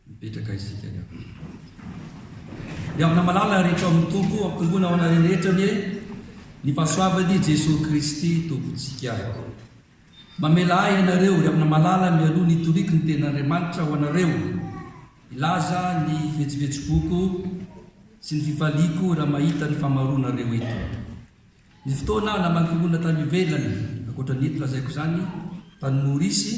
Mipetraka isika ny akoho. Miavona malala ary eto amin'ny Tompo, ampitomboana ho anareo rehetra anie ny fahasoavan'i Jesoa Kristy Tompontsika. Mamela ahy ianareo, ry amina malala, mialoha ny hitoriako ny tenin'Andriamanitra ho anareo, hilaza ny vetsovetsoboko sy ny fifaliako raha mahita ny famaroanareo eto. Ny fotoana namangiloana tany ivelany, ankoatra ny eto lazaiko izany, tany Maorisy,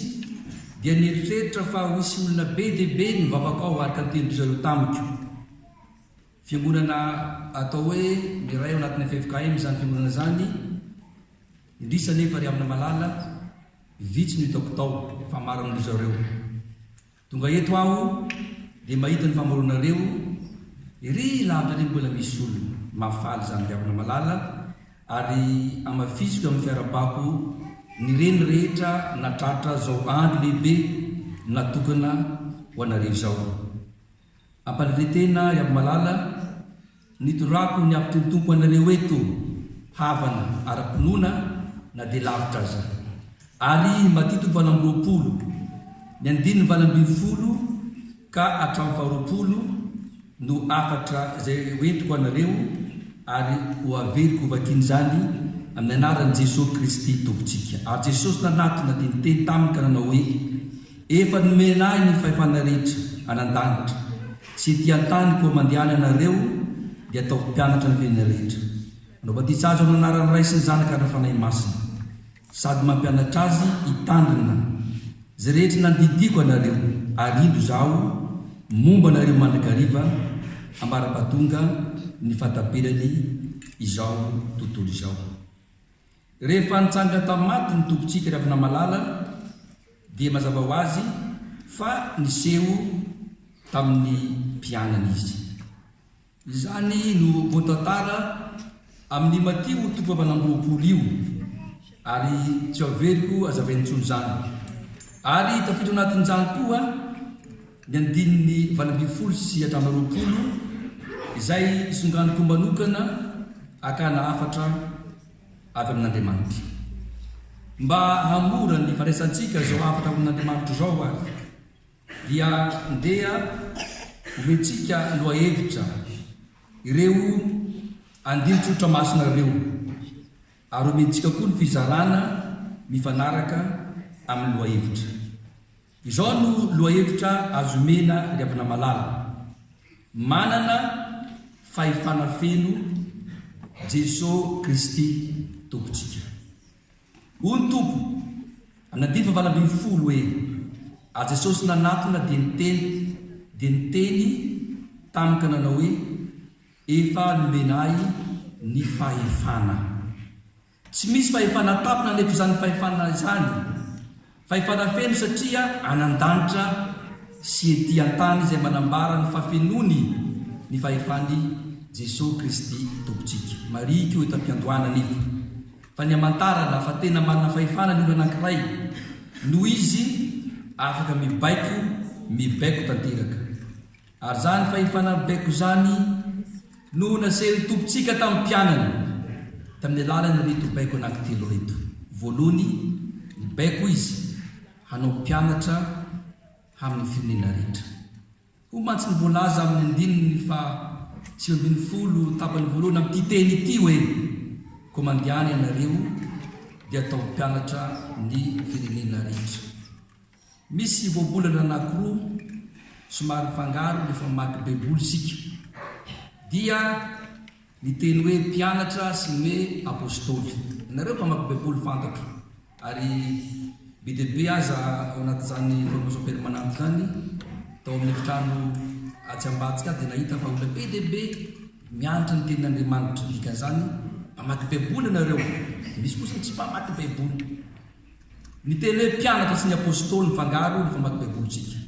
dia nieritreritra fa ho hisy olona be dia be ny mivavaka ao araka ny tenin-dry zareo tamiko. Fiangonana atao hoe miray ao anatin'ny ffkm izany fiangonana izany, indrisy anefa ry Amina Malala, vitsy no hitako tao, fa maro amin-dry zareo. Tonga eto aho dia mahita ny famoronareo ery lavitra ery mbola misy olona mahafaly izany viavy Ramalala ary hamafisiko amin'ny fiarabako ny reny rehetra natratra izao andro lehibe natokana ho anareo izao. Ampalibe tena ry Abimalala, nidorako ny hafitry ny Tompo anareo eto havana ara-pinoana na dia lavitra aza. Ary matitiko valo amby roapolo, ny andininy valo ambin'ny folo ka hatramin'ny faharoapolo no hafatra izay ho entiko anareo ary ho averiko hovakiana izany amin'ny anaran'i Jesoa Kristy Tompontsika. Ary Jesosy nanatona dia niteny taminy ka nanao hoe. Efa nomena ahy ny fahefana rehetra any an-danitra sy ety an-tany koa mandehana ianareo dia ataovy mpianatra ny tenany rehetra. Anao batisa azy ao amin'ny anaran'ny Ray sy ny Zanaka ary ny Fanahy Masina sady mampianatra azy hitandrina izay rehetra nandidiako anareo ary indro izaho momba anareo mandrakariva ambara-pahatonga ny fahataperany izao tontolo izao. Rehefa nitsanga tamin'ny maty ny Tompontsika Ravinamalala dia mazava ho azy fa niseho tamin'ny mpianany izy. Izany no voatantara amin'ny Matio toko fahavalo amby roapolo io ary tsy haveriko hazavaina intsony izany. Ary tafiditra ao anatin'izany koa ny andininy valo ambin'ny folo sy hatramin'ny roapolo izay isonganiko manokana hakana hafatra avy amin'Andriamanitra. Mba hamora ny fandraisantsika izao hafatra avy amin'Andriamanitra izao ary dia ndeha omentsika lohahevitra ireo andinin-tsotra masina ireo ary omentsika koa ny fizarana mifanaraka amin'ny lohahevitra. Izao no lohahevitra azo omena ry havana malala, Manana fahefana feno Jeso Kristy Tompontsika. Hoy ny Tompo, amin'ny andininy valo ambin'ny folo, hoe, Ary Jesosy nanatona dia niteny, dia niteny taminy ka nanao hoe, Efa nomena Ahy ny fahefana. Tsy misy fahefana tampina anefa izany fahefana izany. Fahefana feno satria any an-danitra sy ety an-tany izay manambara ny fahafenoany ny fahefan'i Jesoa Kristy Tompontsika. Marihiko eto am-piandohana anefa fa ny hamantarana fa tena manana fahefana ny olona anankiray noho izy afaka mibaiko mibaiko tanteraka. Ary izany fahefana baiko izany no nasehon'ny Tompontsika tamin'ny mpianany tamin'ny alalan'ireto baiko anankitelo ireto. Voalohany, ny baiko Izy hanao mpianatra amin'ny firenena rehetra. Hoy mantsy ny voalaza amin'ny andininy faha sivy ambin'ny folo tapany voalohany amin'ity teny ity hoe, Koa mandehana ianareo, dia ataovy mpianatra ny firenena rehetra. Misy voambolana anankiroa somary mifangaro rehefa mamaky Baiboly isika, dia ny teny hoe mpianatra sy ny hoe apostoly. Ianareo mpamaky Baiboly fantatro, ary be dia be aza ao anatin'izany Formation Permanente izany, tao amin'ny efitrano atsy ambadika aho dia nahita fa olona be dia be mianatra ny Tenin'Andriamanitra. Ny dikan'izany, mpamaky Baiboly ianareo. Misy kosa ny tsy mpamaky Baiboly. Miteny hoe mpianatra sy ny Apôstôly mifangaro ny famaky Baibolintsika.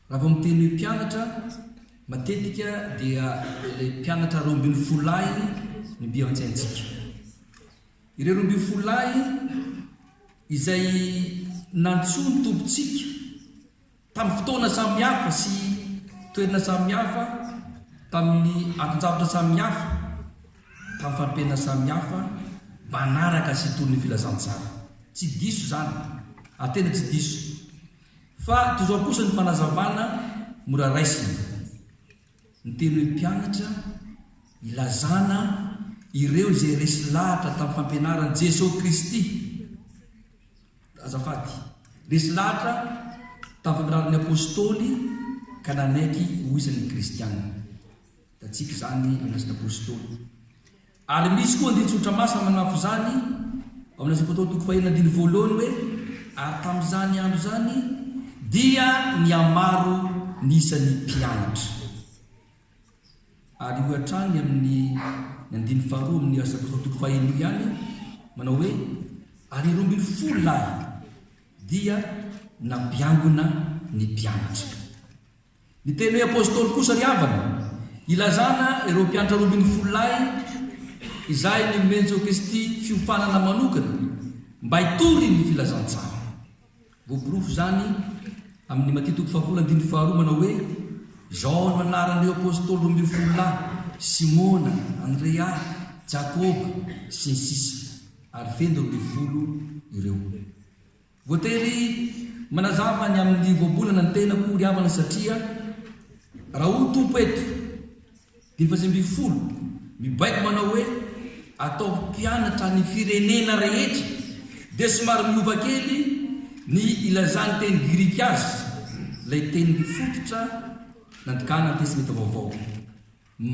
Raha vao miteny hoe mpianatra, matetika dia ilay mpianatra roa ambin'ny folo lahy no dia ao an-tsaintsika. Ireo roa ambin'ny folo lahy izay nantsoin'ny Tompontsika Tamin'ny fotoana samihafa sy toerana samihafa, tamin'ny anton-javatra samihafa, tamin'ny fari-piainana samihafa, manaraka sy toy ny filazantsara. Tsy diso izany, ary tena tsy diso. Fa toy izao kosa ny fanazavana mora raisina. Ny teny hoe mpianatra, ilazana ireo izay resy lahatra tamin'ny fampianaran'i Jesoa Kristy, azafady, resy lahatra tamin'ny fampianaran'ny Apôstôly ka nanaiky ho isan'ny Kristiana. Hitantsika izany amin'ny Asan'ny Apôstôly. Ary misy koa andinin-tsoratra masina manampy izany ao amin'ny Asampatao toko fahenina andininy voalohany hoe, Ary tamin'izany andro izany dia nihamaro ny isan'ny mpianatra. Ary hoy hatrany amin'ny ny andininy faharoa amin'ny Asampatao toko fahenina io ihany, manao hoe, Ary roa ambin'ny folo lahy dia nampiangona ny mpianatra. Ny teny hoe apostoly kosa ry havana, ilazana ireo mpiantra roa ambin'ny folo lahy izay ninomen'i Jesosy-Kristy fiofanana manokana mba hitory ny filazantsara. Voaporofo izany amin'ny Matia toko fahafolo andininy faharoa manao hoe, Izao no anaran'ireo apostoly roa ambin'ny folo lahy, Simona, Andrea, Jakoba, sy ny sisa, ary feno roa ambin'ny folo ireo. Voatery manazava ny amin'ny voambolana ny tenako ry havana satria raha hoy Tompo eto dimy faha sivy ambin'ny folo mibaiko manao hoe ataovy mpianatra ny firenena rehetra dia somary miova kely ny ilazan'ny teny grika azy ilay teny fototra nandikana ny testmenta vaovao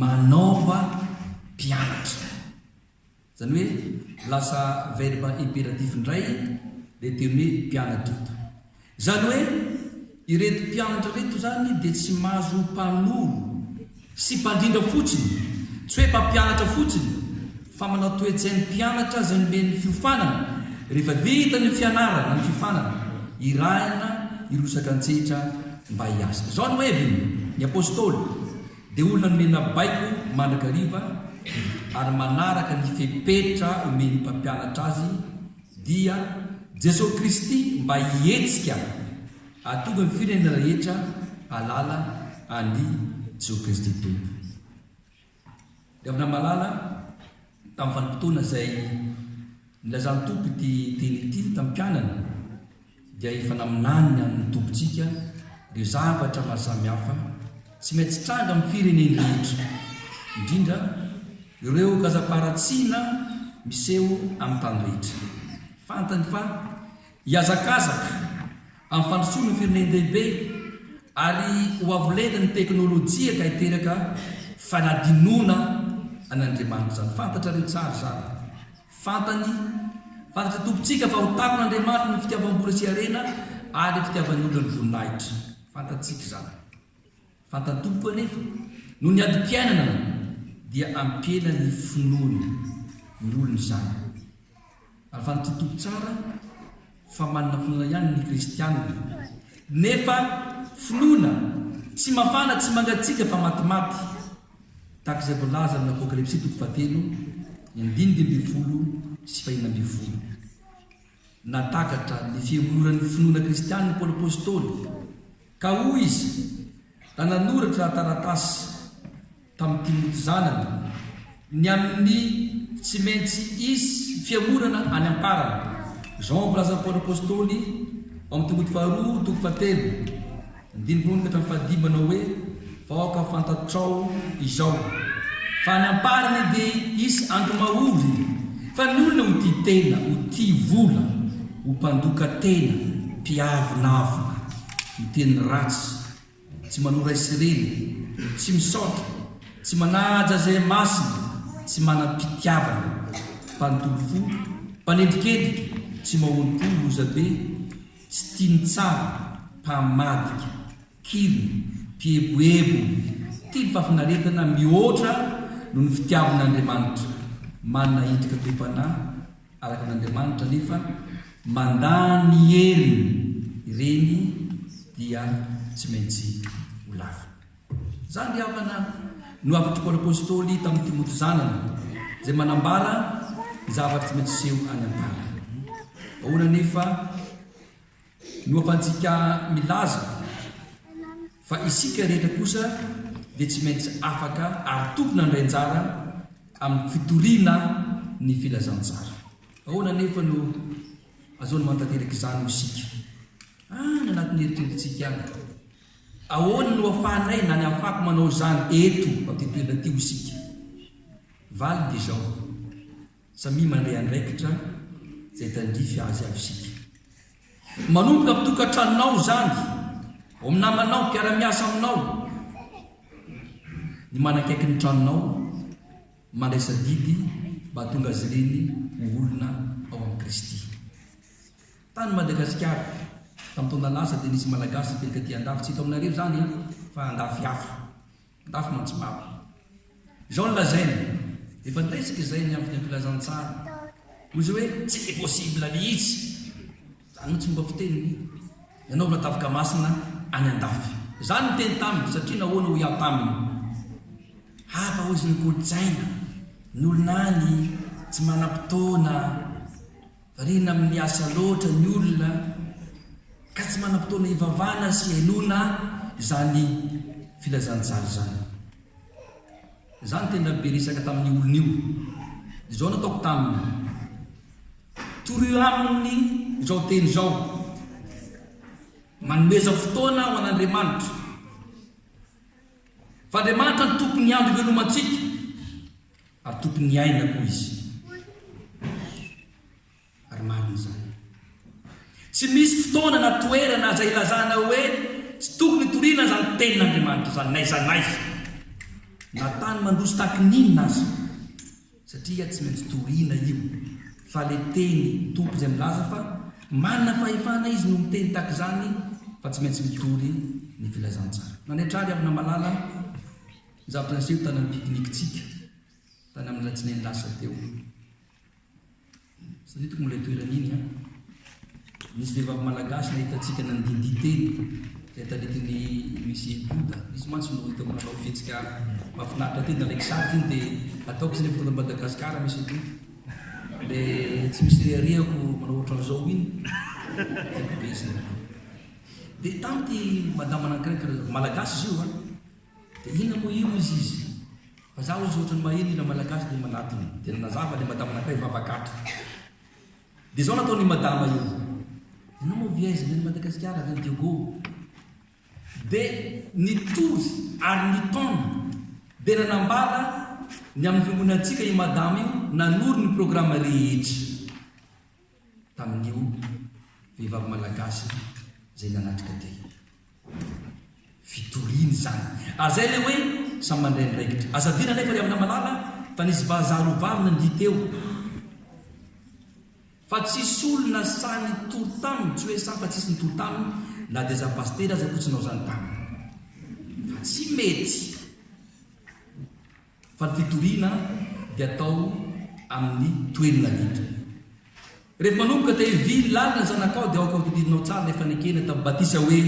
manaova mpianatra. Izany hoe lasa verbe impératif indray ilay teny hoe mpiana-doto. Izany hoe ireto mpianatra ireto izany dia tsy mahazo ho mpanoro sy mpandrindra fotsiny, tsy hoe mpampianatra fotsiny, fa manao toe-tsain'ny mpianatra izay nomen'ny fiofanana, rehefa vita ny fianarana na ny fiofanana, irahina hirosaka an-tsehatra mba hiasa. Izao no heviny ny Apostoly. Dia olona nomena baiko mandrakariva ary manaraka ny fepetra omen'ny mpampianatra azy dia Jesoa Kristy mba hihetsika hahatonga ny firenena rehetra hahalala an'i Jesoa Kristy Tompo. Dia avy namalala tamin'ny vanim-potoana izay nilazan'ny Tompo ity teny ity tamin'ny mpianany. dia efa naminany ny an'ny Tompontsika ireo zavatra maro samihafa tsy maintsy tranga amin'ny fireneny rehetra, indrindra ireo kazam-paharatsiana miseho amin'ny tany rehetra. Fantany fa hihazakazaka amin'ny fandrosoana firenen-dehibe ary ho avo lenta ny teknolojia ka hiteraka fanadinoana an'Andriamanitra izany. Fantatrareo tsara izany. Fantany, fantatry ny Tompontsika fa ho takon' Andriamanitra ny fitiavam-bola sy harena ary ny fitiavan' olona ny voninahitra. Fantatsika izany. Fantan'ny Tompo anefa, noho ny adim-piainana, dia ampiena ny finoany ny olona izany. Ary fantatry ny Tompo tsara. fa manana finoana ihany ny kristianina nefa finoana tsy mafana tsy mangatsiaka fa matimaty tahaka izay voalaza amin'ny apokalypsy toko fahatelo ny andininy dimy ambin'ny folo sy fahenina ambin'ny folo natakatra ny fiholoran'ny finoana kristianina paoly apostoly Ka hoy izy, Da nanoratra taratasy tamin'i Timoty zanany, ny amin'ny tsy maintsy hisy fihemorana any am-parany. Jean Mpilaza Paoly Apostoly, ao amin'ny Timoty Faharoa, toko fahatelo, andininy voalohany ka hatramin'ny fahadimy, manao hoe, Vahoaka fantatrao izao fa any amparany dia hisy andro mahory fa ny olona ho tia tena, ho tia vola, ho mpandoka tena, mpiavonavona, miteny ratsy, tsy manoa ray sy reny, tsy misaotra, tsy manaja izay masina, tsy manam-pitiavana, mpanontolo fo, mpanendrikendrika, tsy mahorim-po, lozabe, tsy tia ny tsara, mpamadika. Kily, mpieboebo, tia ny fahafinaretana mihoatra noho ny fitiavana an'Andriamanitra. Manana endrika toe-panahy araka an'Andriamanitra nefa mandà ny heriny, ireny dia tsy maintsy ho lafiny. Izany ry havana no hafatr'i Paoly Apostoly tamin'i Timoty zanany, izay manambara ny zavatra tsy maintsy hiseho any am-pary. Ahoana anefa? Loham-pantsika milaza fa isika rehetra kosa dia tsy maintsy afaka ary tokony handray anjara amin'ny fitoriana ny filazantsara. Ahoana anefa no azo manatanteraka izany ho isika? Any anatin'ny eritreretintsika ihany. Ahoana no ahafahanay na ny ahafahako manao izany eto amin'ity toerana ity ho isika? Valiny dia izao. Samia mandeha andraikitra izay tandrify azy avy isika. Manomboka amin'ny tokantranonao izany, ao amin'ny namanao, mpiara-miasa aminao, ny manakaiky ny tranonao, mandraisa didy mba hahatonga azy ireny ho olona ao amin'i Kristy. Tany Madagasikara, tamin'ny taona lasa dia nisy Malagasy nipetraka aty Andafy, tsy eto aminareo izany an, fa Andafy hafa. Ndafy Mantsibato. Izao no lazainy, efa niretsika izay ny amin'ny filazantsara, hoy izy hoe tsy possible mihitsy, izany mihitsy fomba fiteniny, ny hanao vatavika masina any Andafy. Izaho no niteny taminy, satria nahoana hoy aho taminy, hafa hoy izy ny kolontsaina, ny olona any tsy manam-potoana. Variana amin'ny asa loatra ny olona ka tsy manam-potoana hivavahana sy henoina izany filazantsara izany. Izaho no tena be resaka tamin'io olona io. Izao no ataoko taminy, Torio aminy izao teny izao, Manomeza fotoana ho an'Andriamanitra, fa Andriamanitra no Tompon'ny andro ivelomantsika. Ary tompon'ny aina koa izy. Ary marina izany. Tsy misy fotoana na toerana aza ilazana hoe tsy tokony hitoriana izany Tenin'Andriamanitra izany, n'aiza n'aiza, na tany mandroso tahaky ny inona aza, satria tsy maintsy toriana io, fa le Teny Tompo izay milaza fa manana fahefana Izy no miteny tahaka izany fa tsy maintsy mitory ny Filazantsara. Nanaitra ary aho namalala. Zato Arivo tany amin'ny pique-nique-tsika tany amin'ny Alatsinainy lasa teo. Saritiko moa ilay toerana iny an! Nisy vehivavy malagasy nahita antsika nandindihy teny izay taritin'ny Musée Bouddha. Izy mantsy no hitako nanao fihetsika mahafinaritra teny. Nalaiko sary teny dia ataoko izay rehefa tonga an'i Madagasikara, Monsieur Bouddha. Ilay tsy misy reharehako manao ohatran'izao iny, tiako be izy ireny. Dia tamy ity madama anankiray, malagasy izy io an! Dia inona moa io izy izy? Fa za ozy ohatrany maheno hira malagasy dia manatona. Dia nanazava le madama nakay vava gaga. Dia zao nataon io madama io. Enao moa vy aiza ny any Madagasikara avy any Diogo? Dia nitory ary nitaona dia nanambara ny amin'ny fiangonantsika i madama io nanoro ny programme rehetra. tamin'io vehivavy malagasy izay nanatrika dia fitoriana izany. Ary izay ilay hoe samy mandray andraikitra. Aza adino anefa ry Amina Malala fa nisy vazaha roa vavy nandihy teo fa tsisy olona sahy nitory taminy, tsy hoe sahy fa tsisy nitory taminy na dia za pasitera aza koa tsy nanao izany taminy fa tsy mety. Fa ny fitoriana dia atao amin'ny toerna indrindra. Rehefa manomboka dia hevily lalina ny zanakao dia aoka hotodidinao tsara ilay fanekena tamin'ny batisa hoe,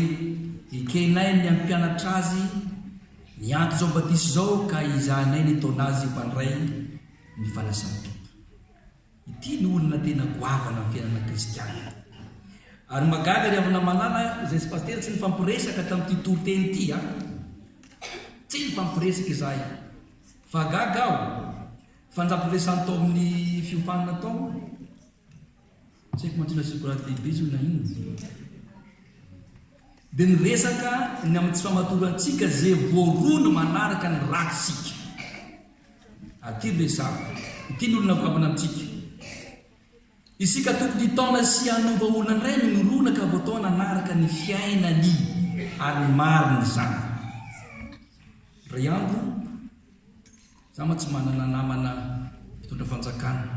Ekenay ny hampianatra azy ny ady izao batisa izao ka hizahanay ny hitaona azy ho mpandray ny fanasan'ny Tompo. Ity no olona tena goavana amin'ny fiainana kristianina. Ary mahagaga ry havana malala izay tsy pasitera tsy nifampiresaka tamin'ity toriteny ity a! Tsy nifampiresaka izahay fa gaga aho fa nifampiresany tao amin'ny fiofanana tao aho. Tsy haiko mantsy na sikorady lehibe izy io na inona. Dia niresaka ny amin'ny tsy famatorantsika izay voaroy ny manaraka ny ratsika. Aty ry resaha. Ity ny olona mivavana amintsika. Isika tokony hitaona sy hanova olona indray ny mirona ka voataona hanaraka ny fiainany ary marina izany. Indray andro, izaho mantsy manana namana mpitondra fanjakana.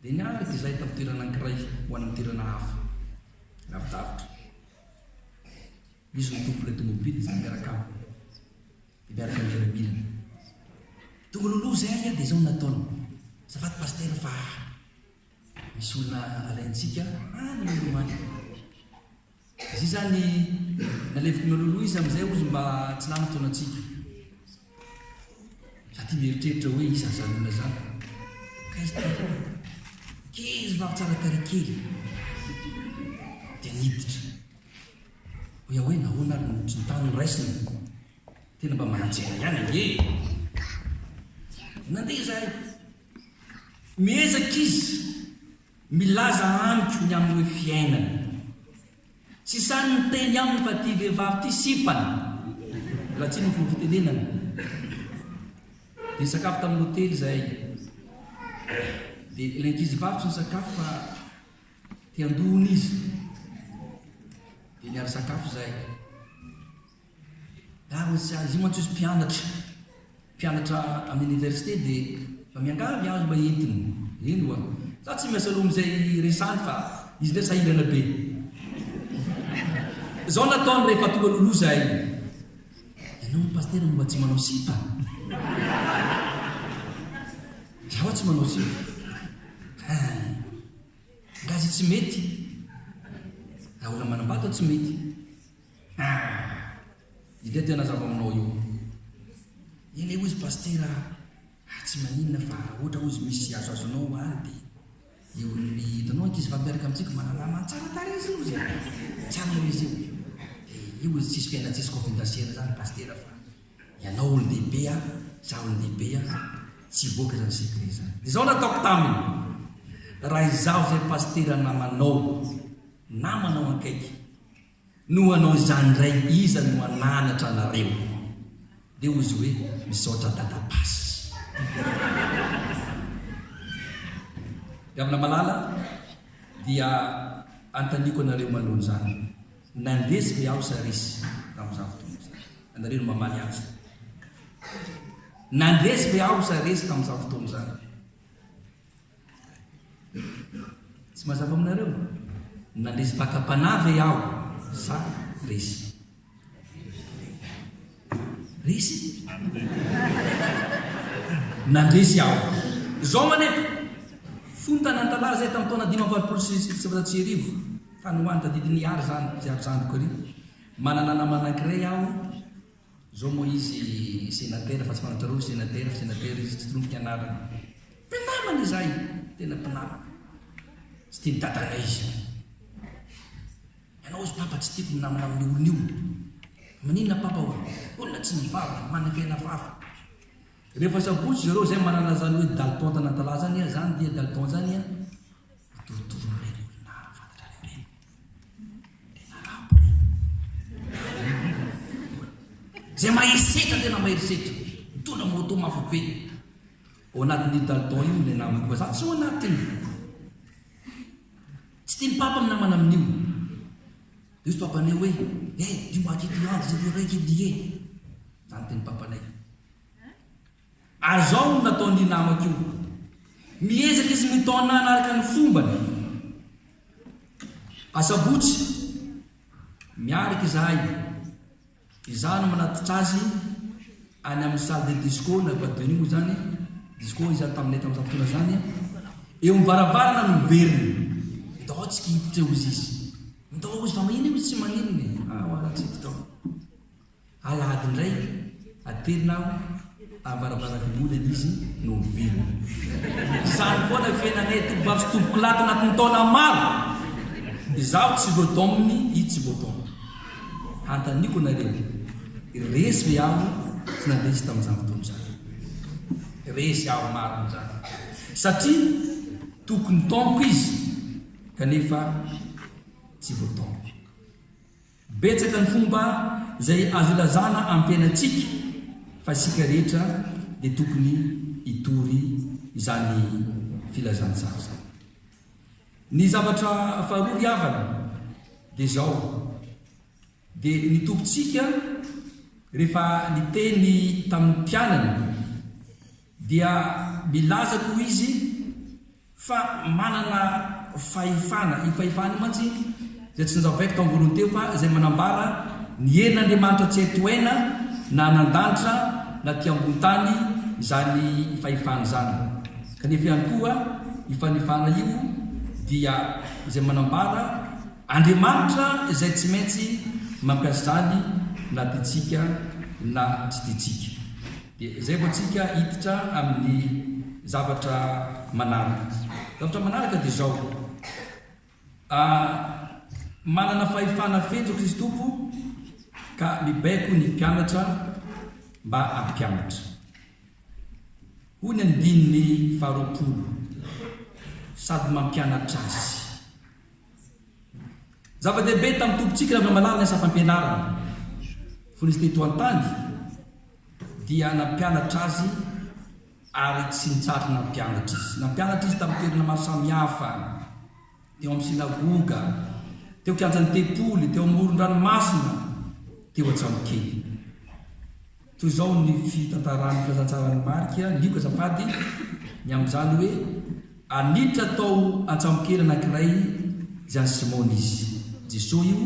Dia niaraka izahay tamin'ny toerana anankiray ho any amin'ny toerana hafa, lavidavitra. Izy no tompon'ilay tômôbily, izahay miaraka aminy. Miaraka am miaramila. Tonga loloha zay aia de zao ny nataony. Azafady Pasitera fa misy olona alaintsika any loloha any. Izay zany naleviko na loloha izy amizay ozy mba tsy lany fotoanantsika. Za ty mieritreritra hoe iza zany olona zany. Akaiza ty aloha. Kely vavy tsara tarehy kely. Dia niditra. Hoy aho hoe nahoana ary ny kintana noraisiny? Tena mba mananjera ihany ange e! Nandeha izahay. Miezaka izy milaza amiko ny amin'ny hoe fiainany. Tsy sahy niteny aminy fa ity vehivavy ity sipany, raha tsy ny fomba fitenenany. Dia nisakafo tamin'ny hotely izahay. Dia ilay ankizivavy tsy nisakafo fa. Ety an-dohany izy dia niary sakafo izay. Ary ny sazy, izy io mantsy izy mpianatra, mpianatra amin'ny oniversite dia efa miangavy azy mba entiny. Eny oa, za tsy miasa loha amin'izay resany fa izy indray sahirana be. Izao no ataony rehefa tonga loloha izahay. Ianao hono Pasitera no mba tsy manao sipa. Za ho'a tsy manao sipa. Gasy tsy mety. Daholo manambata tsy mety. Ah! Ilay tena zava-manao io. Ilay hozy pasitera ah, tsy maninona fa ohatra hozy misy azo azo anao any dia eo amin'ny hitanao ankizy fa miaraka amintsika manalama tsara tarehy izy hozy eh. Tsara hozy io. Dia io hozy tsisy fiaina tsisy kofin-dasera zany pasitera fa Ianao olon-dehibe an, izaho olon-dehibe an, tsy vokatra ny secret zany. Izao no ataoko taminy, raha izaho izay pasitera namanao, namanao ankaiky, no hanao izany indray iza no hananatra anareo? dia hozy hoe misaotra dada past. Ry havana malala dia antaniko anareo maloha izany. Nandeso ny Aos ary izy tamin'izany fotoana izany. Ianareo no mamaly azy. Nandeso ny Aos ary izy tamin'izany fotoana izany. Tsy mazava aminareo? Nandeso mpaka-panahy ve aho sa izy? Resy e! Nandresy aho. Izao manefa, fony tanan-tantara izay tamin'ny taona dimy amby valopolo sy sivinjato sy arivo, fa ny ho an'ny tadidin'i Yary izany, izay ry zandriko ery. Manana namana anankiray aho, izao moa izy senatera, fa tsy fantatrareo ry senatera, senatera izy, tsy torompiko ny anarany. Mpinamana izahay, tena mpinamana. Tsy tian'i dadanay izany. Ianao hozy papa tsy tiako minamana amin io olona io. Maninona papa oa? Olona tsy mivavaka, manakaina vava. Rehefa sabotsy zareo zay manana zany hoe dalton tanantalahy zany a zany dia dalton zany a mitovitovy am reny olona fantatrareo reny reny arabo reny zay mahery setra tena mahery setra mitondra moto mafy be ao anatin'io dalton io le namako fa za tsy ao anatiny Tsy tian'i Papa ny namana amin'io. Dia hozy Papanay hoe, Eh, dio maty ity andro izay dia raiky io dia eh! Izany ny tenin'i Papanay. Ary izao no nataon'io namako io, miezaka izy mitaona hanaraka ny fombany. Asabotsy, miaraka izahay Izaho no manatitra azy any amin'ny salle de disco na boîte de nuit moa izany, disco izany taminay tamin'izany fotoana izany, eo amin'ny varavarana no miverina. Midao aho tsy kihititra eo izy izy. Midao aho izy fa maninona izy tsy maninona e. Ah, ho'aho tsy hiditra ao. Alahady indray, atelina aho. Avaravarabemolana izy no velona. Izany koa ilay fiainanay toby vavy sy toby kilaty anaty ny taona maro. Izaho tsy lodomme i tsy lodomme. Hanontaniako anareo, resy ve aho tsy nandresy tamin'izany fotoana izany? Resy aho marina izany satria tokony tamiko izy kanefa tsy voatamiko. Betsaka ny fomba izay azo ilazana ampianatsika fa isika rehetra dia tokony hitory izany filazantsara izany. Ny zavatra faharoa ry havana dia izao, dia ny Tompontsika rehefa niteny tamin'ny mpianany dia milaza toy izy fa manana fahefana, io fahefana io mantsy dia tsy nizao baiko tao am-bolony teo fa izay manambara ny herin'Andriamanitra tsy hay tohaina na any an-danitra na aty ambony tany izany fahefana izany. Kanefa ihany koa io fanefana io dia izay manambara Andriamanitra izay tsy maintsy mampiasa izany na tiantsika na tsy tiantsika. Dia izay vao tsika hiditra amin'ny zavatra manaraka. Zavatra manaraka dia izao, manana fahefana feno Kristy Tompo ka mibaiko ny mpianatra mba hampianatra. Hoy ny andininy faharoapolo, sady mampianatra azy. Zava-dehibe tamin'ny Tompontsika raha mahalala ny asa fampianarana, fony Izy teto an-tany, dia nampianatra azy ary tsy nitsahatra nampianatra izy. Nampianatra izy tamin'ny toerana maro samihafa, teo amin'ny synagoga, teo kianjan'ny tempoly, teo amoron-dranomasina, teo an-tsambokely. Toy izao ny fitantaran'ny filazantsaran'i Marka, Lioka azafady, ny amin'izany hoe. Ary niditra tao an-tsambokely anankiray izay an'i Simona izy, Jesoa io,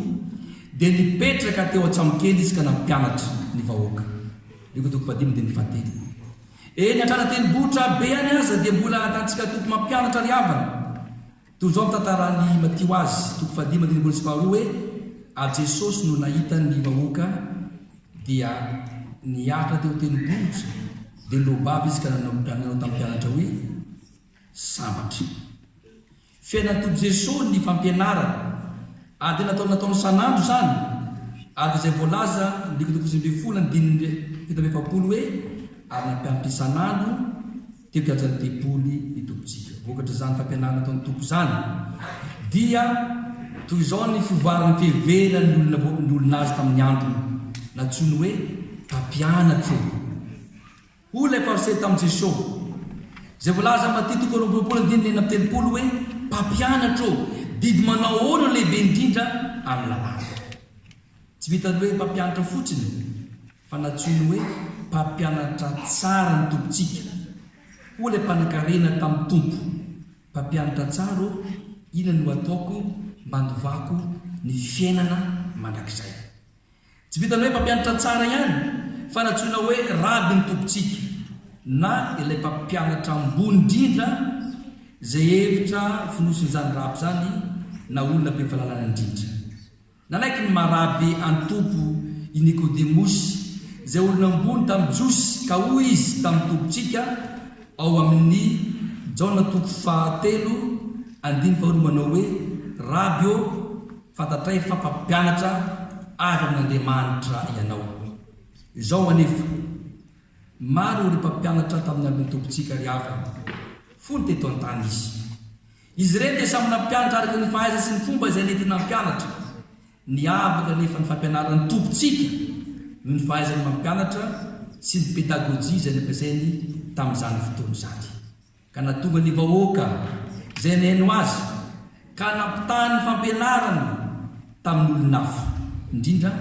dia nipetraka teo an-tsambokely izy ka nampianatra ny vahoaka. Luka toko fahadimy andininy fahatelo. Eny an-trano an-tendrombohitra be any aza dia mbola ahitantsika toky mampianatra ry havana. Toy izao no tantaran'i Matio azy, toko fahadimy andininy voalohany sy faharoa hoe, Ary Jesosy no nahita ny vahoaka, Dia niakatra teo tendrombohitra, dia nobabo izy ka nanao nanao tamin'ny mpianatra hoe, Sambatra. Fiainan'ny Tompo Jesoa ny fampianarana, ary dia nataony nataony isan'andro izany, araka izay voalaza ny dikotoko sivy ambin'ny folo andininy fito amby efapolo hoe, ary nampianatra isan'andro, Teo kianjan'ny tempoly ny Tompontsika. Vokatr'izany fampianarana ataon'ny Tompo izany dia toy izao ny fivoaran'ny fiheveran'ny olona ny olona azy tamin'ny androny. Nantsoiny hoe mpampianatro. Hoy ilay Fariseo tamin'i Jesosy, izay voalaza amin'ny Matia toko roapolo ambin'ny folo andininy enina amby telopolo hoe, Mpampianatro ô, didy manao ahoana no lehibe indrindra amin'ny lalàna? Tsy vitan'ny hoe mpampianatra fotsiny. Fa nantsoiny hoe mpampianatra tsara ny Tompontsika. Hoy ilay mpanankarena tamin'ny Tompo, Mpampianatra tsara ô, inona no hataoko mba handovako ny fiainana mandrakizay? Tsy vitan'ny hoe mpampianatra tsara ihany, fa nantsoina hoe Raby ny Tompontsika, na ilay mpampianatra ambony indrindra, izay hevitra fonosin'izany raby izany na olona be fahalalana indrindra. Nanaiky ny Marabe an'i Tompo i Nikodemosy, izay olona ambony tamin'ny Jiosy, ka hoy izy tamin'ny Tompontsika ao amin'ny Jaona toko fahatelo andininy faharoa manao hoe, Raby ô, fantatray fa mpampianatra avy amin'Andriamanitra ianao. Izao anefa, maro ireo mpampianatra tamin'ny andron'ny Tompontsika ry havana, fony teto an-tany Izy. Izy ireny dia samy nampianatra araka ny fahaizany sy ny fomba izay nety nampianatra. Niavaka anefa ny fampianaran'ny Tompontsika noho ny fahaizany mampianatra sy ny pedagojia izay nampiasainy tamin'izany fotoana izany, ka nahatonga ny vahoaka izay nihaino Azy ka nampitaha ny fampianarany tamin'olon-hafa, indrindra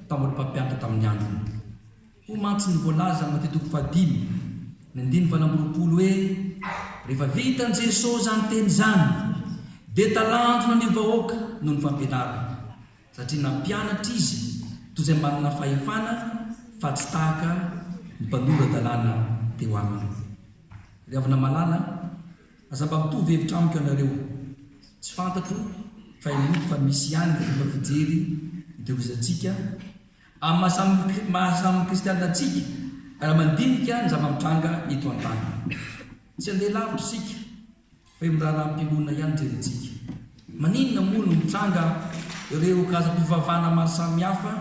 tamin'ireo mpampianatra tamin'ny androny. Hoy mantsy ny voalaza ao Matia toko fahadimy ny andininy valo amby roapolo hoe, Rehefa vitan'i Jesoa izany teny izany, dia talanjona ny vahoaka noho ny fampianarany, satria nampianatra Izy toy izay manana fahefana fa tsy tahaka ny mpanora-dalàna teo aminy. Ry havana malala, aza mba mitovy hevitra amiko ianareo. Tsy fantatro fa henoko fa misy ihany ny fomba fijery itehirizantsika Amin'ny maha samy kristiana antsika, raha mandinika ny zava-mitranga eto an-tany. Tsy handeha lavitra isika, fa eo amin'ny raharaham-pinoana ihany no jerentsika. Maninona moa no mitranga ireo karazam-pivavahana maro samihafa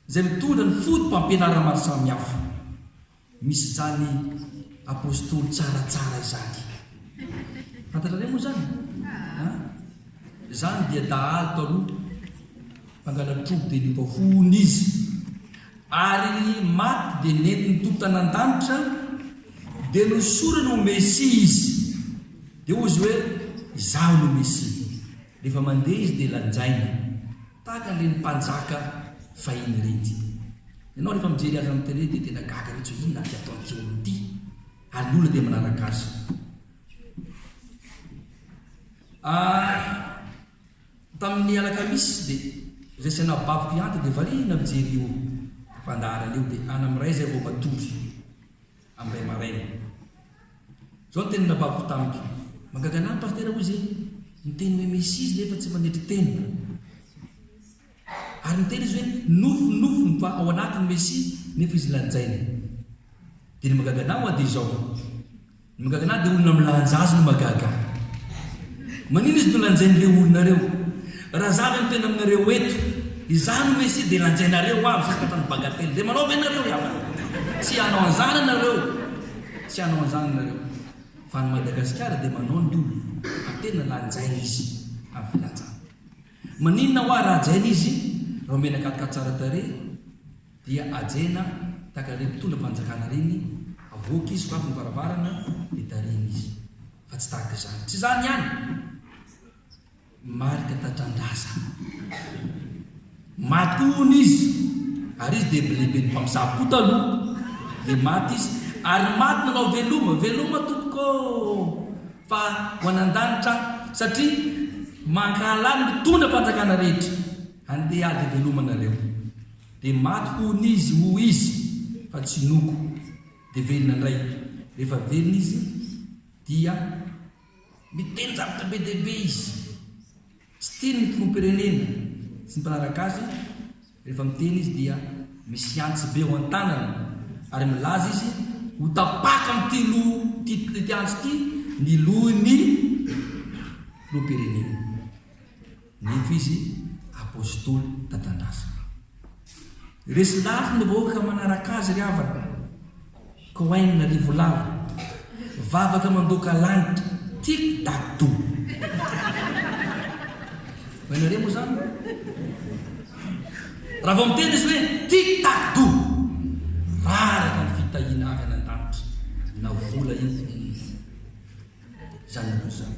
izay mitondra ny foto-pampianarana maro samihafa? Misy izany apostoly tsaratsara izany. Fantatrareo moa izany? An? Izany dia dahalo tao aloha, mpangalatrobo dia lio tao fony izy. Ary maty dia nentin'ny Tompo tany an-danitra, dia nosorany ho Mesia izy. Dia hoy izy hoe, Izaho no Mesia. Rehefa mandeha izy dia lanjaina. Tahaka an'ireny mpanjaka fahiny ireny isika. Ianao rehefa mijery azy amin'ny tele dia tena gaga mihitsy hoe inona ity ataon'ity olona ity? Ary ny olona dia manaraka azy. Ah, tamin'ny alakamisy dia izay sy anabaviko hiantoka dia variana mijery io fandaharana io dia any amin'ny iray izay vao matory. amin'ny ray aman-reny. Izao ny teny nababiko tamiko, Mahagaga anah ny Pasitera hoy izy, niteny hoe misy izy nefa tsy manetry tena. Ary niteny izy hoe nofinofy ny fa ao anatin'ny Mesia nefa izy lanjaina. Dia ny mahagaga anah hoa dia izao, ny mahagaga anah dia olona milanja azy no mahagaga. Manina izy no lanjain'ireo olona ireo? Raha za ve no tena aminareo eto, izaho no Mesia dia lanjainareo ho avy santatra ny bagatelle dia manao ve nareo ihany? Tsy hanao an'izany ianareo, tsy hanao an'izany ianareo, fa any Madagasikara dia manao ny olona fa tena lanjaina izy amin'ny filanjana. Maninona hoa raha hajaina izy raha omena katka tsara tarehy dia hajaina tahaka ireny mpitondra fanjakana ireny, avoaka izy, sokafy ny varavarana dia tarihina izy, fa tsy tahaka izany. Tsy izany ihany. Marika tatran-drazana. Maty koa hono izy, ary izy dia lehiben'ny mpamosavy koa taloha. Dia maty izy, ary maty nanao veloma. Veloma tompoko ô! Fa ho any an-danitra aho, satria mankahala ny mitondra fanjakana rehetra. Andeha ady veloma nareo. Dia maty koa hono izy, hoy izy, fa tsy noko. Dia velona indray. Rehefa velona izy, dia Miteny zavatra be dia be izy. Tsy tiany ny filoham-pirenena sy ny mpanaraka azy, rehefa miteny izy dia misy antsy be ao an-tanany ary milaza izy ho tapaka amin'ity loha ity antsy ity ny lohin'ny filoham-pirenena. Nefa izy Apostoly tatandrasana. Resy lafo ny vahoaka manaraka azy ry havana. Cohen Rivolava. Vavaka mandoaka lanitra. Tic tac to. Fa ianareo moa izany? Raha vao miteny izy hoe tic tac to. Raraka ny fitahiana avy any an-danitra. Na vola io. Izany aloha izany.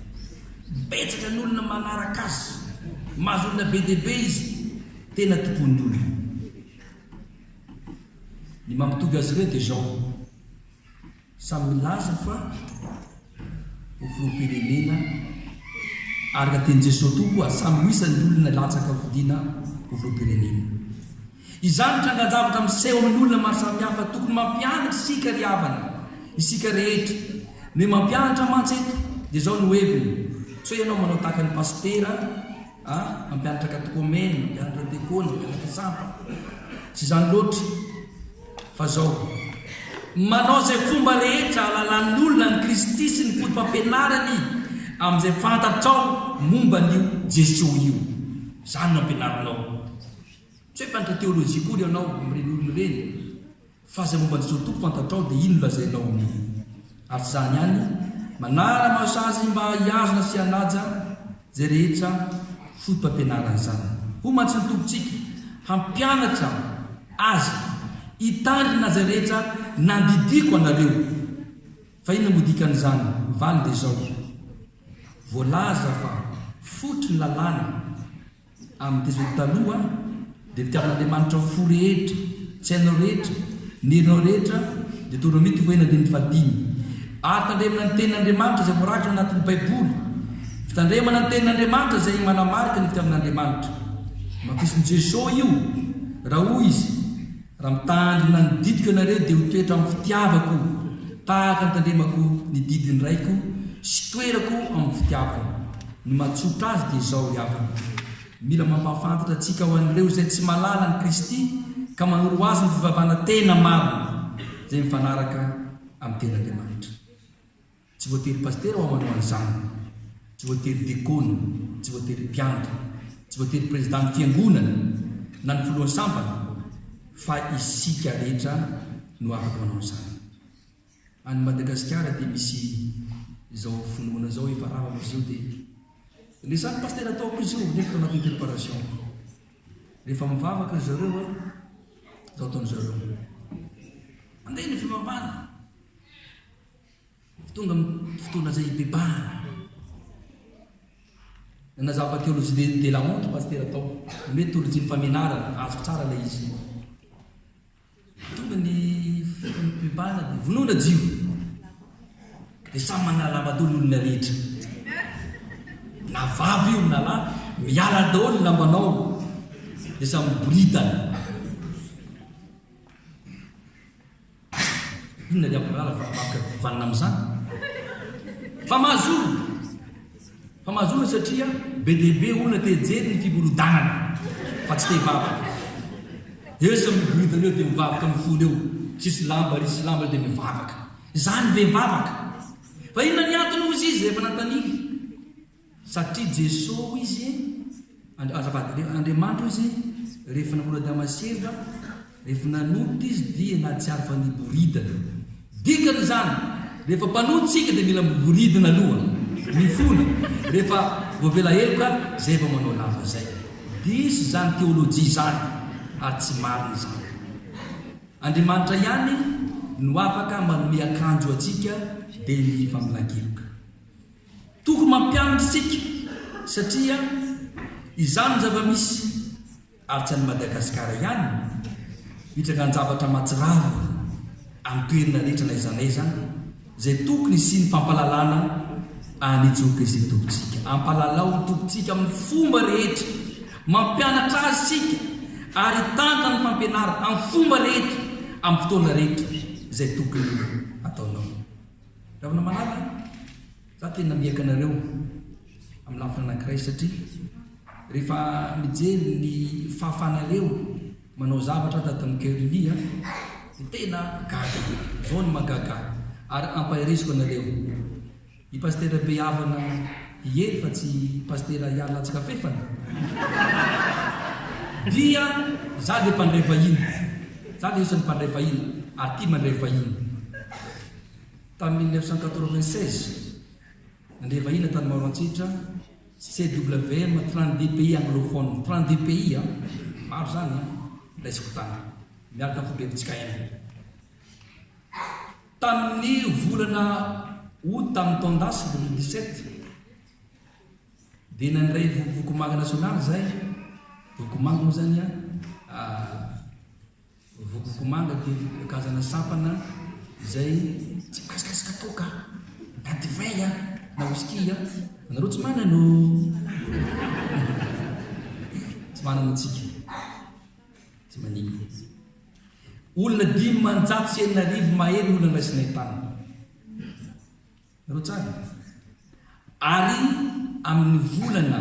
Betsaka ny olona manaraka azy. Mahazoolona be dia be izy. Tena tompon'ny olona. Ny mampitovy azy ireo dia izao. Samy milaza fa ho filoham-pirenena araka tenin'i Jesoa tokoa. Samy ho isan'ny olona latsaka fodiana ho filoham-pirenena. Izany trangan-javatra miseho amin'ny olona maro samihafa tokony mampianatra isika ry havana, isika rehetra. Ny hoe mampianatra mantsy eto dia izao no heviny, tsy hoe ianao manao tahaka ny pasitera a, mampianatra katekomena, mampianatra dekona, mampianatra sampa. Tsy izany loatra fa izao. Manao izay fomba rehetra ahalalan'ny olona an'i Kristy sy ny foto-pampianarany amin'izay fantatrao momba an'io Jesoa io. Izany no ampianarinao. Tsy hoe mpantra teolojia akory ianao amin'ireny olona ireny fa izay momba an'i Jesoa Tompo fantatrao dia iny no lazainao aminy. Araka izany ihany, manàra anao sazy mba hihazona sy hanaja izay rehetra fotopampianaran'izany. Hoy mantsy ny Tompontsika, Hampianatra azy hitandrina izay rehetra nandidiako anareo. Fa inona moa dikan'izany? Ny valiny dia izao, Voalaza fa fototry ny lalàna Amin'ny desert taloha dia fitiavan'Andriamanitra ho fo rehetra, tsy hainao rehetra, ny herinao rehetra dia toa ramity ho hen'andrian'ny fahadimy. Ary tandremana ny tenin'Andriamanitra izay voarakitra anatin'ny baiboly. Fitandremana ny tenin'Andriamanitra izay manamarika ny fitiavan'Andriamanitra. Nohafisin'i Jeso io raha hoy izy. Raha mitandrina ny didiko ianareo dia ho toetra amin'ny fitiavako, tahaka ny tandremako ny didin'ny Raiko sy toerako amin'ny fitiavany. Ny mahatsotra azy dia izao ry havana, mila mampahafantatra antsika ho an'ireo izay tsy mahalala an'i Kristy ka manoro azy ny fivavahana tena marina, izay mifanaraka amin'ny Tenin'Andriamanitra. Tsy voatery pasitera hoa manao an'izany, tsy voatery dekona, tsy voatery mpiandry, tsy voatery prezidan'ny fiangonana na ny filohan'ny sambany fa isika rehetra no afaka manao an'izany. Any Madagasikara dia misy izao finoana izao efa rava amin'izy io dia le samy pasitera ataoko izy io nefa anatin'ny préparation. Rehefa mivavaka ry zareo a, izao ataon'izareo. Andeha ny fivavahana. Tonga ny fotoana izay hibebahana. Nanazava Théologie de de la montre Pasitera tao. Nomeny tolojian'ny famenarana. Azoko tsara ilay izy. Tonga ny fotoana hibebahana dia vonoina jiro. Dia samy manala lamba daholo ny olona rehetra. Na vavy io na lahy, miala daholo ny lambanao. Dia samy miboridana. Inona ny ambarana varavaratra vanona amin'izany? Fa mahazo olona! Fa mahazo olona satria be dia be olona te hijery ny fiborodanana fa tsy te hivavaka. Eo samy miboridana eo dia mivavaka amin'ny fony eo, tsisy lamba ary tsisy lamba eo dia mivavaka. Izany ve vavaka? Fa inona ny antony hozy izy rehefa nanontaniany? Satria Jeso hoy izy, azafady, rehefa Andriamanitra hoy izy, rehefa nanolo Adama sy Eva, rehefa nanota izy dia nahatsiaro fa niboridana. Dikany izany, rehefa mpanota isika dia mila miboridana aloha, mifona, rehefa voavela heloka izay vao manao lava izay. Diso izany teolojia izany ary tsy marina izany. Andriamanitra ihany no afaka manome akanjo antsika dia ny faminankeloka. Tokony mampianatra isika satria izany no zava-misy ary tsy any Madagasikara ihany hitrangan-javatra mahatsiravina any toerana rehetra na aiza na aiza izay tokony hisian'ny fampahalalana an'i Jokesi Tompon-tsika. Ampahalalao ny Tompontsika amin'ny fomba rehetra, mampianatra Azy isika ary hitantana ny fampianarana amin'ny fomba rehetra amin'ny fotoana rehetra izay tokony hataonao. Ravanamalala a! Za tena miaika anareo amin'ny lafiny anankiray satria rehefa mijery ny fahafahanareo manao zavatra tato amin'ny Cœur Unis a, dia tena gaga be. Zao no mahagaga ahy ary ampaheresiko anareo. I Pasitera be havana i Hery fa tsy Pasitera Ihary Latsikafefana dia za dia mpandray vahiny. Za dia isan'ny mpandray vahiny ary tia mandray vahiny. Tamin'ny mille neuf cent quatre-vingt-seize, nandeha vahiny tany Maroantsetra CWM trente-deux pays anglophones, trente-deux pays an! maro izany an! raisiko tany miaraka amin'ny fobebitsika Inde. Tamin'ny volana Août tamin'ny taon-dasa deux mille dix-sept dia nandray vokovoko manga nasionaly izahay, vokovoko manga moa izany an! Vokokomanga dia karazana sampana izay tsy mikasikasika toaka na divay na whisky. Anareo tsy manana o! Tsy manana antsika. Tsy manimba. Olona dimanjato sy enina arivo mahery ny olona niraisinay tany. Anareo tsara? Ary amin'ny volana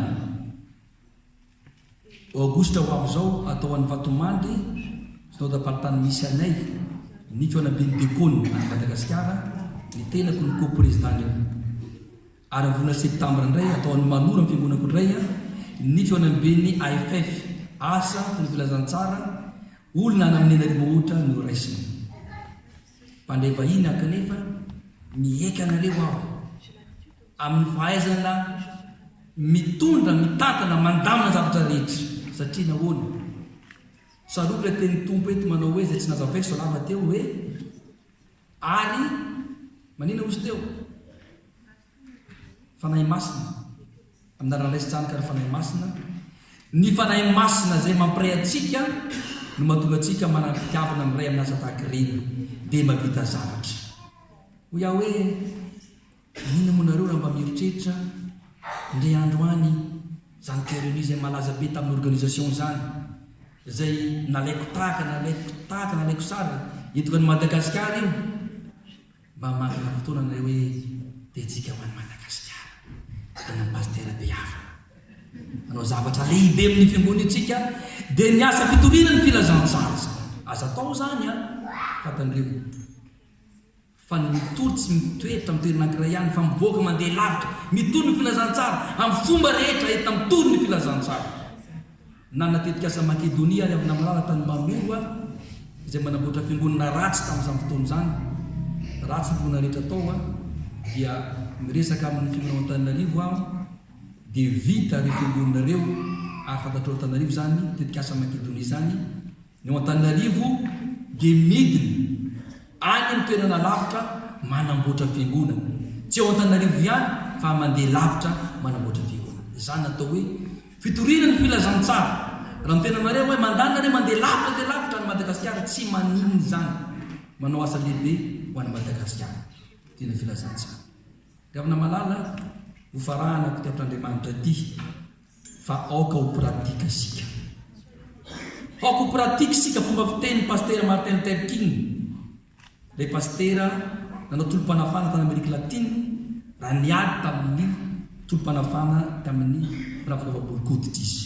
Aogositra ho avy izao, hatao any Vatomandry, Synodamparitany misy anay, Niko Anabin'ny Diakona any Madagasikara, ny tenako no Ko-Prezidàn'io. Ary amin'ny volana Septambra indray, hatao any Maloro amin'ny Fiangonako indray, Niko Anabin'ny AFF. Asa, fony filazantsara, olona any amin'ny an'Arimohotra no raisina. Mpandray vahiny kanefa miaiky anareo aho amin'ny fahaizana mitondra, mitantana, mandamina ny zavatra rehetra. Satria nahoana? Tsarovy ilay tenin'ny Tompo eto manao hoe, izay tsy nazavaiko izao lava teo hoe, ary maninona hozy teo? Fanahy Masina, amin'ny alalan'ny Ray sy Zanaka ary Fanahy Masina, ny Fanahy Masina izay mampiray antsika no mahatonga antsika manam-pitiavana miray amin'ny asa tahaka ireny, dia mahavita zavatra. Hoy aho hoe, inona moa nareo raha mba mieritreritra indray andro any izany Pyrénées izay malaza be tamin'ny organisation izany, izay nalaiko tahaka, nalaiko tahaka, nalaiko sary, eto an'i Madagasikara io. Mba manana fotoana anareo hoe Betsika ho an'i Madagasikara an'ny Pasitera Beavana. Manao zavatra lehibe amin'ny fiangonintsika dia ny asa fitoriana ny filazantsara izany. Aza atao izany an, fa tandremo fa ny mitory tsy mitoetra amin'ny toerana ankiray ihany fa mivoaka mandeha lavitra, mitory ny filazantsara amin'ny fomba rehetra entina mitory ny filazantsara. Nanana tetikasa an'i Makedonia ary avy namarana tany Maroa, izay manamboatra fiangonana ratsy tamin'izany fotoana izany. Ratsy ny finoana rehetra tao, dia miresaka amin'ny finoana ao Antananarivo aho, dia vita ireo fiangonana ireo, ary fantatrao Antananarivo izany tetikasa Makedonia izany, Ny ao Antananarivo dia midina any amin'ny toerana lavitra manamboatra fiangonana. Tsy ao Antananarivo ihany fa mandeha lavitra manamboatra fiangonana. Izany no atao hoe fitoriana ny filazantsara. Raha miteny anareo hoe mandana re mandeha lavitra dia lavitra any Madagasikara tsy maninona izany. Manao asa lehibe ho an'i Madagasikara. Fitoriana filazantsara. Ry havana malala, ho farahanako ity ampitran'Andriamanitra ity. Fa aoka ho pratique isika. Aoka ho pratique isika fomba fitenin'i Pasitera Martin Luther King, ilay pasitera nanao tolom-panafahana tany Amerika Latina raha niady tamin'ny tolom-panafahana tamin'ny mpanampakaofa borikoditra izy.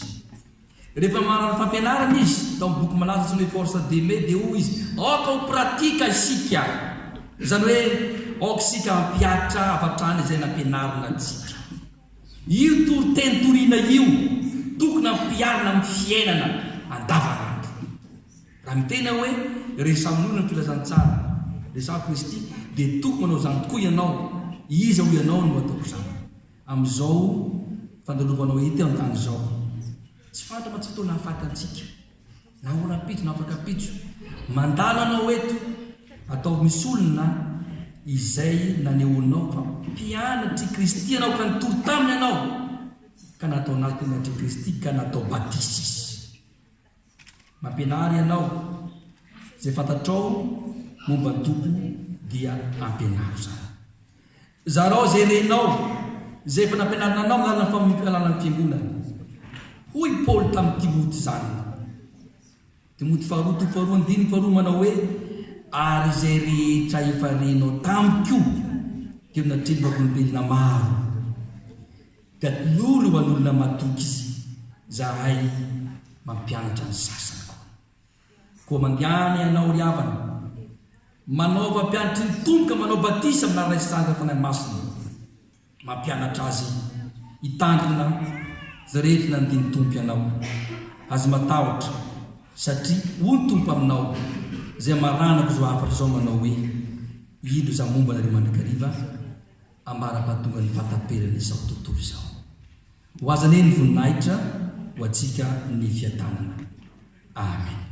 Rehefa mahalala fampianarana izy, tao amin'ny boky malaza antsoina hoe Forza Deme, dia hoy izy, Aoka ho pratique isika. Izany hoe, aoka isika hampiharitra avy hatrany izay nampianarina antsika. Io toriteny toriana io tokony ampiharina amin'ny fiainana andavanandro. Raha miteny aho hoe resahin'ny olona ny filazantsara resahin'i Kristy dia tokony manao izany tokoa ianao. Iza hoy ianao no ataoko izany amin'izao fandalovanao eto an-tany izao? Tsy fantatra mantsy ny fotoana hahafaty antsika. Na ora-pitso na afaka pitso. Mandalo anao eto. Ataovy misy olona izay nanehoanao fa mpianatr'i Kristy ianao ka nitory taminy ianao ka natao nampianatr'i Kristy ka natao batisa izy. Mampianara ianao. Izay fantatrao momba ny Tompo dia ampianaro izany. Zarao izay renao, izay efa nampianarina anao amin'ny alalan'ny famonoam-pialana ny Fiangonana. Hoy i Paoly tamin'i Timoty zanany, Timoty faharoa toko faharoa andininy faharoa manao hoe, Ary izay rehetra efa renao tamiko dia natrehin'ny vavolombelona maro. Gadon'ory ho an'olona matoky izy, izahay mampianatra ny sasany koa. Koa mangana ianao ry havana, manaova mpianatry ny Tompo ka manao batisa amin'ny anaran'Ilay Sangan'ny Fanahy Masina, mampianatra azy hitandrina izay rehetra nanadin'ny Tompo ianao. Aza matahotra, satria hoy ny Tompo aminao, izay maranako izao hafatra izao manao hoe, Indro Izaho momba anareo mandrakariva, ambara-batonga ny fahataperan' izao tontolo izao. Ho Azy anie ny voninahitra, ho Antsika ny fiadanana. Amen.